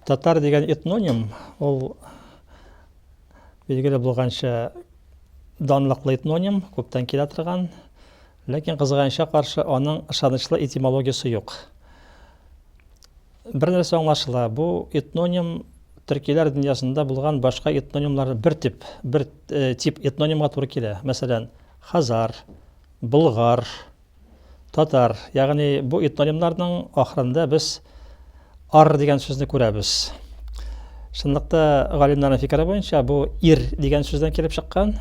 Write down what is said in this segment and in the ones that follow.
Татар дигән этноним, ул билгеле булганча данлыклы этноним, күптән килә торган, ләкин кызганычка каршы аның ышанычлы этимологиясе юк. Бер нәрсә аңлашыла, бу этноним төркиләр дөньясында булган башка этнонимлар бер тип, бер э, тип этнонимга туры килә. Мәсәлән, Хазар, болгар, татар, ягъни бу этнонимнарның ахырында без ар дигән сүзне күрәбез. Чынлыкта, галимнарның фикере буенча, бу ир дигән сүздән килеп чыккан,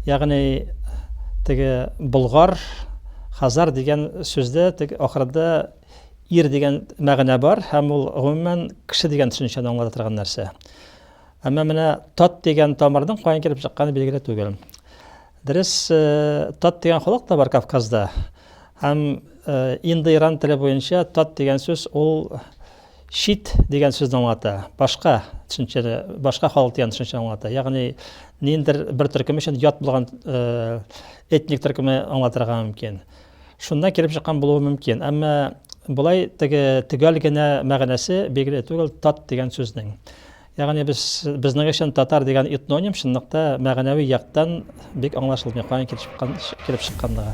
ягъни теге болгар, хазар дигән сүздә теге ахырында ир дигән мәгънә бар һәм ул гомумән кеше дигән төшенчәне аңлата торган нәрсә. Әмма менә тат дигән тамырның каян килеп чыкканы билгеле түгел. Дөрес, тат дигән халык та бар Кавказда. Һәм индоиран теле буенча тат дигән сүз ул чит дигән сүзне аңлата. Башка төшенчәне, башка халык дигән төшенчәне аңлата. Ягъни ниндер бер төркем өчен ят булган этник төркеме аңлатырга мөмкин. Шуннан килеп чыккан булуы мөмкин. Әмма болай теге төгәл генә мәгънәсе билгеле түгел тат дигән сүзнең. Ягъни без безнең өчен татар дигән этноним чынлыкта мәгънәви яктан бик аңлашылмый, каян килеп чыккан, килеп чыкканлыгы.